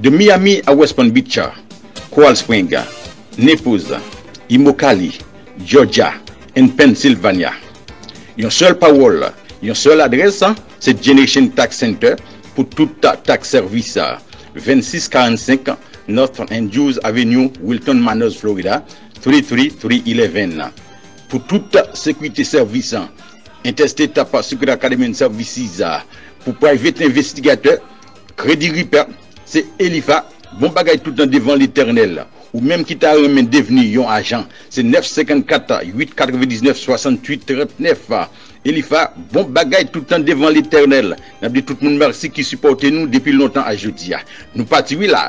De Miami a West Palm Beach, Coral Spring, Naples, Immokalee, Georgia and Pennsylvania, yon sèl pawòl, yon sèl adrès, se Generation Tax Center pou tout tax sèvis, 2645 North Andrews Avenue, Wilton Manors, Florida, 33311. Pou tout sekirite sèvis, Interstate Prosecutor Academy and Services pou private envestigatè, Kredi Ripa se Elifa bon bagay tout nan devan Letènèl ou menm ki ta renmen devni yon ajan se 9 54 8 99 68 39 Elifa bon bagay tout nan devan Letènèl nap di tout moun merci ki sipòte nou depi lontan a jodia nou pati wi la.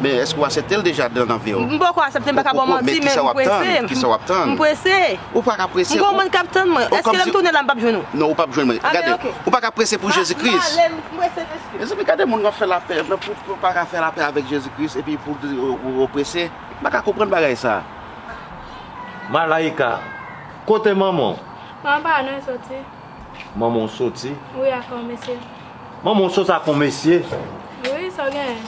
Men eske ou aseptel deja dan nan viw. M poko asepte m paka baw manti men m prese. Men kisa wap tann? M prese. Ou paka prese. M gon moun kap tann mwen. Eske lèm tounen la m pap jwenn ou? Non ou pap jwenn mwen. Gade, ou paka prese pou Jezi Kris. M pale, m prese mesye. Mezanmi gade moun wap fè lapè, nan pou ou paka fè lapè avèk Jezi Kris epi pou di ou prese. M paka konprann bagay sa. Malaïka, kote manman w? Manman pa la non li soti. Manman w sot si. Wi ak yon mesye. Manman w sot ak yon mesye? Wi sa w genyen.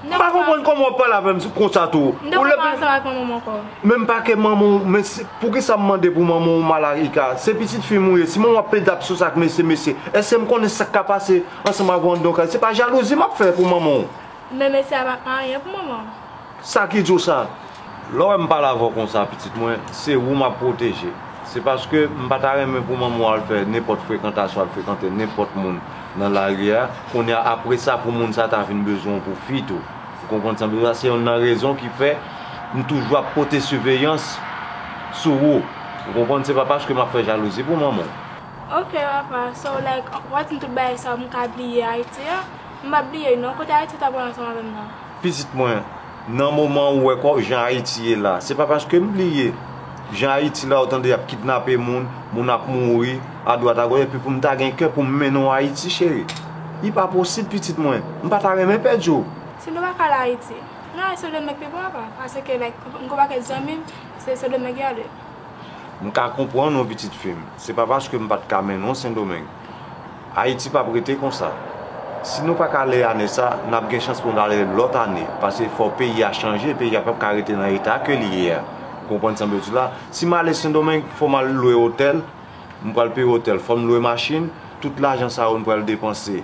M pa konprann kòman w ap pale avè m konsa tou. M te konn pa ansanm ak manman m ankò. Men m pa ke manman w men poukisa m mande pou manman w Malaika? Se pitit fi m ou ye si manman w ap plede ap sot ak mesye mesye èske m konnen sa k ka pase ansanm avè w anndan yon kay se pa jalouzi m ap fè pou manman w? Men mesye a pa anyen pou manman w. Sa ki di w sa? Lè w wè m pale avè w konsa pitit mwen, se ou m ap pwoteje. Se paske m pa ta renmen pou manman w al fè nenpòt frekantasyon, al frekante nenpòt moun nan lari a, kounye a apre sa pou moun sa a ta vin bezwen w pou fi tou. Ou konprann sa m di w la? Se yonn nan rezon ki fè m toujou ap pote siveyans sou ou. Ou konprann? Se pa paske m ap fè jalouzi pou manman w. Ok papa, so like, w ap di m tout bagay sa yo m ka bliye Ayiti a? M pa bliye l non. Kote Ayiti w t ap pran ansanm avè m nan? Pitit mwen, nan moman ou wè kòw jan Ayiti ye la, se pa paske m bliye jan Ayiti la ou tande y ap kidnape moun, moun ap mouri adwat agòch epi pou m ta gen kè pou m mennen w Ayiti cheri. Li pa posib pitit mwen, m pa ta renmen pèdi w. Si nou pa ka ale Ayiti, nou ale Sendomeng pi bon apa, paske like m konn pa kèk zanmi m se Sendomeng y ale. M ka konprann w pitit fi m. Se pa paske m pa t ka mennen w Sendomeng. Ayiti p ap rete konsa. Si nou pa ka ale ane sa, n ap gen chans pou n ale lòt ane. Pase fò peyi a chanje. Peyi a pap ka rete nan eta ke li ye a. Ou konprann sa m vle di la? Si m ale Sendomeng, fò m al lwe otèl. M pral peye otèl. Fò m lwe machin. Tout lajan sa yo m pral depanse.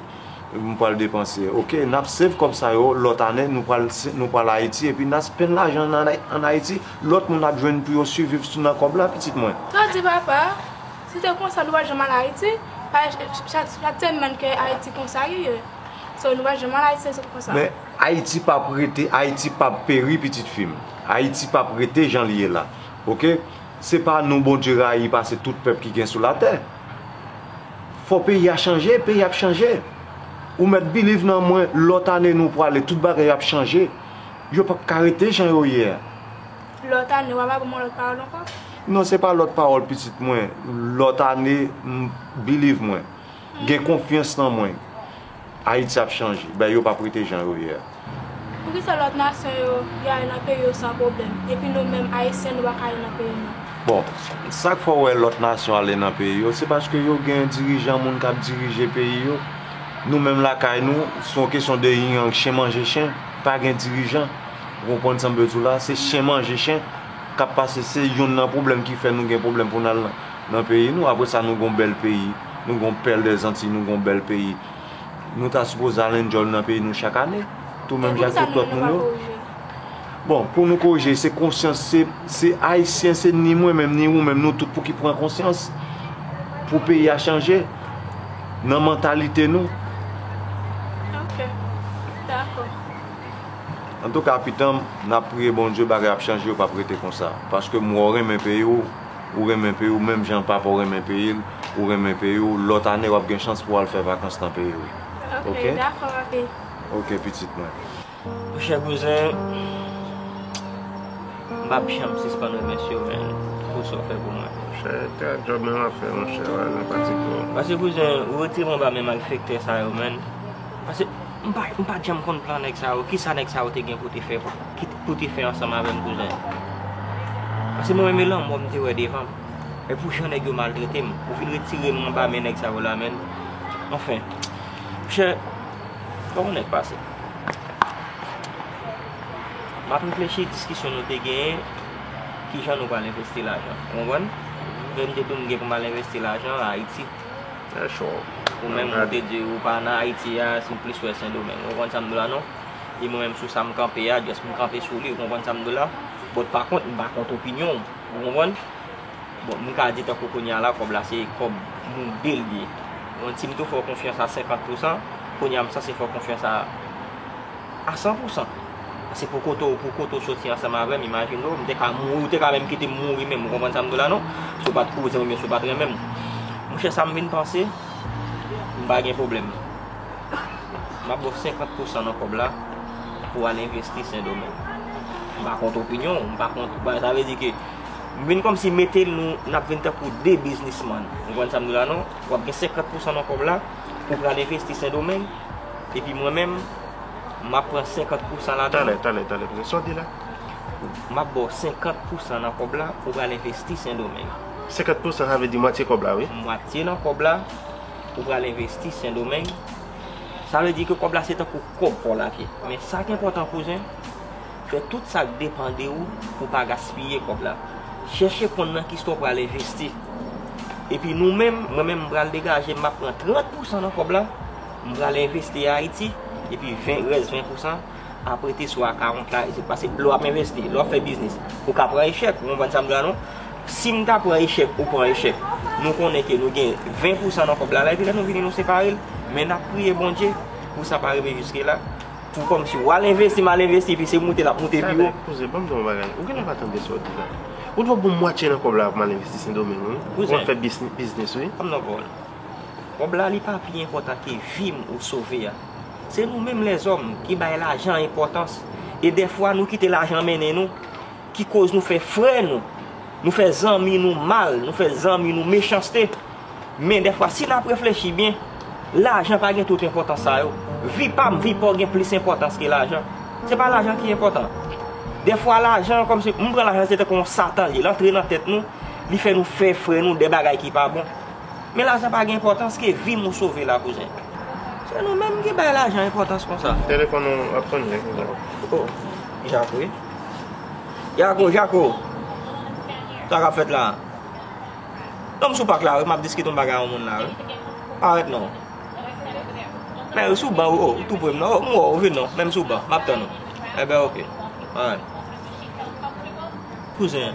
m pral depanse ok nap save kòb sa yo lòt ane nou pral nou pral ayiti epi na spend lajan nan an ayiti lòt moun ap jwenn pou yo siviv sou nan kòb la pitit mwen. Sa di papa, si se konsa nou pa janm al ayiti, chak tèn nan kè ayiti konsa li ye, so nou pa janm al ayiti se konsa. Men ayiti pap rete ayiti pap peri pitit fi m ayiti pap rete jan li ye la ok se pa nou bondye rayi pase tout pèp ki gen sou latè. Fò peyi a chanje, peyi ap chanje. Ou mèt biliv nan mwen, lòt ane nou pwale, tout bagay ap chanje. Yo pap ka rete jan yo ye a. Lòt ane, wap ba mwen lòt pawòl ankò? Non se pa lòt pawòl pitit mwen, lòt ane, biliv mwen. Gen konfyans nan mwen. Ayiti ap chanje. Bay yo pap rete jan yo ye a. Poukisa lot nasyon yo yo ale nan peyi yo san pwoblem epi nou menm ayisyen nou paka ale nan peyi nou. Bon sak fè w wè lòt nasyon ale nan peyi yo se paske yo gen dirijan moun kap dirije peyi yo nou menm lakay nou se yon kesyon de yin yang chen manje chen pa gen dirijan ou konprann sa m vle di w la se chen manje chen kap pase se yonn nan pwoblèm ki fè nou gen pwoblèm pou n al nan peyi nou apre sa nou gen yon bèl peyi. Nou gon pèl dè zantiy nou gon bèl peyi nou ta sipoze al enjoy nan peyi nou chak ane tou menm jan ak tout lòt moun yo bon pou nou korije se konsyans se ayisyen se ni mwen menm ni ou menm nou tout pou ki pran konsyans pou peyi a chanje nan mantalite nou ok dako antouka pitanm nap priye Bondye bagay ap chanje yo pap rete konsa paske m wè w renmen peyi w. ou renmen peyi w menm jan papa w renmen peyi l ou renmen peyi w lòt ane w ap gen chans pou w al fè vakans nan peyi w ok ok pitit mwen Mon chè bouzen m pa p janm sispann remèsye w menn pou sa w fè pou mwen Mon chè te ak djòb menm afè mon chè wè nan pati pou w Pase bouzen ou retire m anba men malfektè sa yo menn pase m pa janm konn plan nèg sa yo kisa nèg sa yo te gen pou te fè Ou te fè ansanm avèm kouzen. Pase mwen menm lanmò m te wè devanm. Men pou jan nèg yo maltretem. Ou vin retirem anba men nèg sa yo la menn. Anfen. Monchè. Koman nèg pase. Map reflechi diskisyon nou te genyen. Ki jan nou pral envesti lajan. Ou konprann? Menm depi m gen pou mal envesti lajan Ayiti. Ou menm ou te di ou pa nan Ayiti a. Si w plis wè sendomeng. Ou konprann sa m di w la non? e mwen menm sou sa m kanpe a just m kanpe sou li ou konprann sa m di w la but pa kont m pa kont opinyon w ou konprann bon m ka di tankou kounye a la kòb la se kòb nou 2 l ye ou konprann si m te fè w konfyans a 50 pousan kounye a m sanse fè w konfyans a a 100 pousan paske pou kote w pou kote w soti ansanm avè m imajine w m te ka mouri ou te ka menm kite m mouri menm ou konprann sa m di w la non si w pa t kouzin m oubyen si w pa t renmen m monchè sa m vin panse m pa gen pwoblèm. M ap ba w 50 pousan nan kòb la pou w al envesti Sendomeng. M pa kont opinyon w, m pa kont, sa vle di ke m vin kòmsi mete l nou, n ap vin tankou 2 biznisman. Ou konprann sa m di w la non? W ap gen 50 pousan nan kòb la pou w pral envesti Sendomeng, epi mwen menm, m ap pran 50 pousan ladan l. Tande, tande, tande, sa w di la? M ap ba w 50 pousan nan kòb la pou w pral envesti Sendomeng. 50 pousan sa vle di mwatye kòb la wi? Mwatye nan kòb la. ou pral envesti sendomeng sa vle di ke kob la se tankou kob paw la vye men sak enpotan kouzen fè tout sak depan de ou pou pa gaspiye kob la chèche konn nan kisa ou pral envesti epi nou menm mwen menm pral degaje map pran 30 pousan nan kob la m pral envesti ayiti epi 20 rès 20 pousan ap rete sou akawont la isit. Pase lè w ap envesti, lè w ap fè biznis, ou ka pran echèk, ou konprann sa m di la non? Si m ta pran echèk, ou pran echèk, nou konnen ke nou gen 20 pousan nan kòb la, la epi lè nou vini nou separe l, men n ap priye Bondye pou sa pa rive jiske la, pou kòmsi w al envesti, mal envesti, epi se moute l ap moute pi wo. Tadèk, kouzen, ban m di w yon bagay, ou genlè pa tande sa w di la. Ou dwe bon mwatye nan kòb la pou mal envesti Sendomeng wi, pou w al fè biznis wi. Kouzen, pa m nan pawòl. Kòb la li pa pi enpòtan ke vi m ou sove a. Se nou menm lèzòm ki bay lajan enpòtans e dèfwa nou kite lajan mennen nou ki koz nou fè frè nou, nou fè zanmi nou mal, nou fè zanmi nou mechanste. Men dèfwa si nap reflechi byen, lajan pa gen tout enpòtans sa yo. Vi pam, vi paw gen plis enpòtans ke lajan. Se pa lajan ki enpòtan. Dèfwa lajan kòmsi, m pran lajan se tankou yon satan li, l antre nan tèt nou, li fè nou fè frè nou de bagay ki pa bon. Men lajan pa gen enpòtans ke vim ou sove la kouzen. Se nou menm ki bay lajan enpòtans konsa. Telefon ou ap sonne wi kouzen. Oh jako wi. Jako jako sa kap fèt la. Non m sou pak la wi map diskite yon bagay yon moun la wi. Pa rèt non. Men ou sou ban wi oh ou tou prem nan. M wè w vin non men m sou ban map tann ou. Enben ok alright. Kouzen.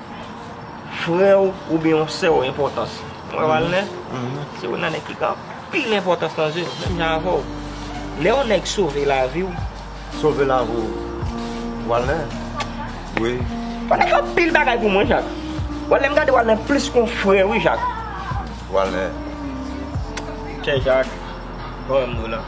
frè w oubyen yon sè w enpòtans. Ou wè Walnè? Se youn nan nèg ki gen anpil enpòtans nan zye m, menm jan avè w. Lè yon nèg sove lavi w. Sove lavi w Walnè? Wi. Walnè fè anpil bagay pou mwen Jak. Walnè m gade Walnè plis kon frè wi Jak. Walnè. Chè Jak, ou wè m dou la.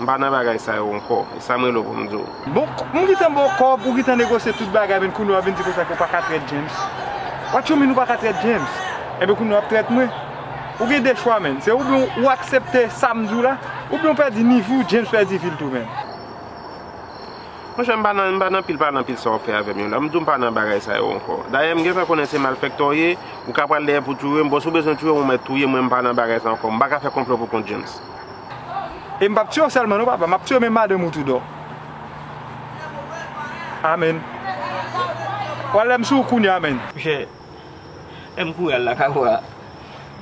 M pa nan bagay sa yo ankò. E sa m rele w pou m di w. Bon, m gentan ba w kòb, ou gentan negosye tout bagay men kounye a w vin di konsa ke w pa ka trèt James. What you mean ou pa ka trèt James? Enben kounye a w ap trèt mwen. Ou gen 2 chwa menn. Se oubyen ou aksepte sa m di w la, oubyen ou pèdi nivo w, James pèdi vi l tou menn. Mon chè, m pa nan, m pa nan pil pale nan pil sa w fè avè m yo la. M di w m pa nan bagay sa yo ankò. Dayè m gentan konnen se malfèktè w ye, ou ka pral dèyè pou touye m. Bon, si w bezwen touye m, ou mèt touye m, mwen m pa nan bagay sa ankò. M pa ka fè konplo pou kont James. E m p ap tiye w sèlman non papa, m ap tiye w men madanm ou tou dò. Amen. W al lè m sou ou kounye a men. Monchè, lè m kouri al lakay ou a,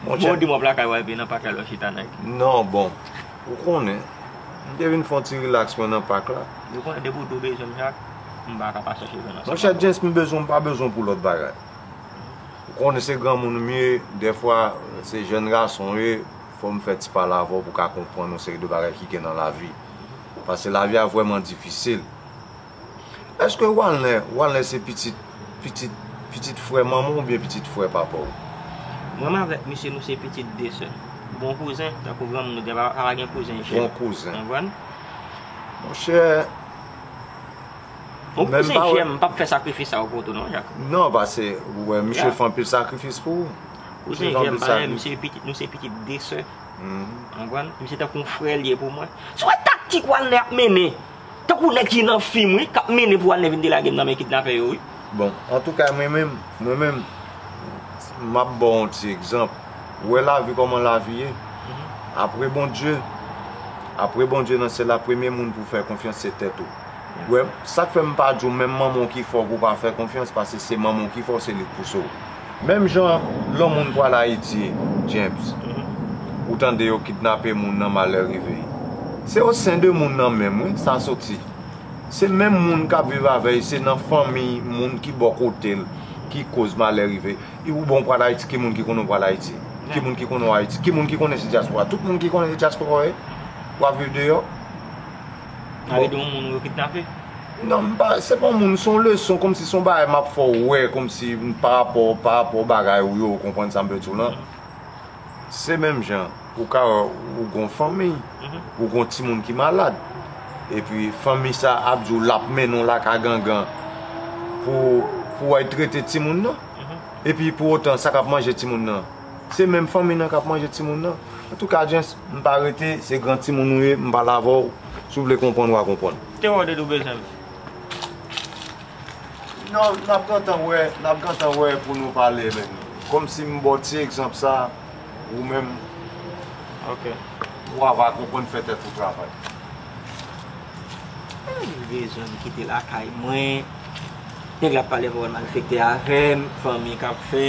bon w di m w ap lakay ou a epi nan pak la lè w chita nan ki. Non bon, ou konnen, m te vin fè yon ti rilaks mwen nan pak la. Ou konnen depi w di w bezwen m chak, m pa ka pa chèche jwenn ansanm avè w. Monchè James m bezwen w m pa bezwen w pou lòt bagay. Ou konnen se granmoun m ye, dèfwa se jèn gason w ye. Fòm fè ti pale avèw pou ka konprann yon seri de bagay ki gen nan lavi. Pase lavi a vrèman difisil. Eske walnè walnè se pitit pitit pitit frè manmanw oubyen pitit frè papaw? Mwen m avèk misye nou se pitit de sè. Bon kouzen tankou granmoun nou di a pa gen kouzen jèn. Bon kouzen. Konprann? Monchè. Bon kouzen jèm m pap fè sakrifis sa yo pou ou tou non jak. Non pase ou wè misye fè anpil sakrifis pou ou. Ou se jèm bagay misye pitit nou se pitit de sè anpwann misye tankou yon frè liye pou mwen sou wè taktik walnè ap mennen tankou nèg ki nan fim wi kap mennen pou walnè vin delagem nan men kidnapè yo wi. Bon antouka mwen menm mwen menm map baw yon ti egzanp ou wè lavi kòman lavi ye apre Bondye apre Bondye nan syèl la premye moun pou fè konfyans se tèt ou. Wè sak fè mpa diw menm manmanw ki fè w pou pa fè konfyans pase se manmanw ki fè w se li k pouse w menm jan lò moun pral ayiti James ou tande yo kidnape moun nan malè rive se o sen de moun nan menm wi sa soti se menm moun kap viv avèy se nan fanmi moun ki bò kote l ki koz malè rive i ou bon pral ayiti ki moun ki konnen w pral ayiti ki moun ki konnen w ayiti ki moun ki konnen se dyaspora tout moun ki konnen se dyaspora w ye wap viv deyò. Pale de yon moun yo kidnape? Non, m pa, se pa yon moun, se yon leson, kòmsi se yon bagay m ap fè w wè, kòmsi parapò, parapò bagay ou yo, ou konprann sa m vle di w lan? Se menm jan, ou ka wè, ou gen yon fanmi, ou gen yon timoun ki malad, epi fanmi sa a ap di w l ap mennen w lakay gangan pou, pou w al trete timoun nan, epi pou otan sa k ap manje timoun nan? Se menm fanmi nan kap manje timoun nan. Antouka Jens, m pa rete, se gran timoun ou ye, m pale avè w, si w vle konprann wa konprann. Te wè w depi w bezwen m. Non, n ap gentan wè, n ap gentan wè pou nou pale men kòmsi m ba w ti egzanp sa, ou menm wa va konprann fè tèt ou travay. Li bezwen m kite lakay mwen, nèg la ap pale avè w malfektè avè m, fanmi kap fè.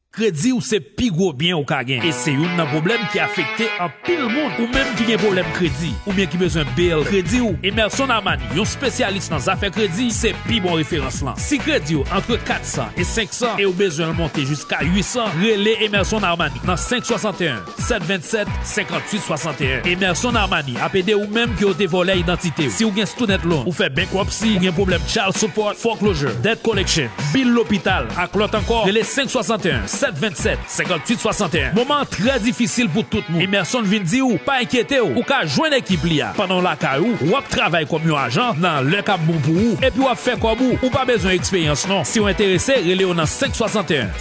Kredi ou se pi gwo byen ou ka gen, e se youn nan pwoblèm ki afekte anpil moun. Ou menm ki gen pwoblèm kredi, oubyen ki bezwen build kredi ou, Emerson Armani, yon spesyalis nan zafè kredi, se pi bon referans lan. Si kredi ou antre 400 e 500, e ou bezwen l monte jiska 800, rele Emerson Armani nan 5 61. 727 58 61 Emerson Armani ap ede ou menm ke yo te vòlè idantite ou. Si ou gen student loan, ou fè bankruptcy, ou gen pwoblèm child support, foreclosure, debt collection, bill lopital ak lòt ankò, rele 561 727 58 61 Moman an trè difisil pou tout moun. Emerson vin di ou, pa enkyete ou, ou ka jwenn ekip li a pandan w lakay ou, ou ap travay kòm yon ajan nan lè k ap bon pou ou, epi w ap fè kòb ou, ou pa bezwen eksperyans non. Si w enterese, rele yo nan 561.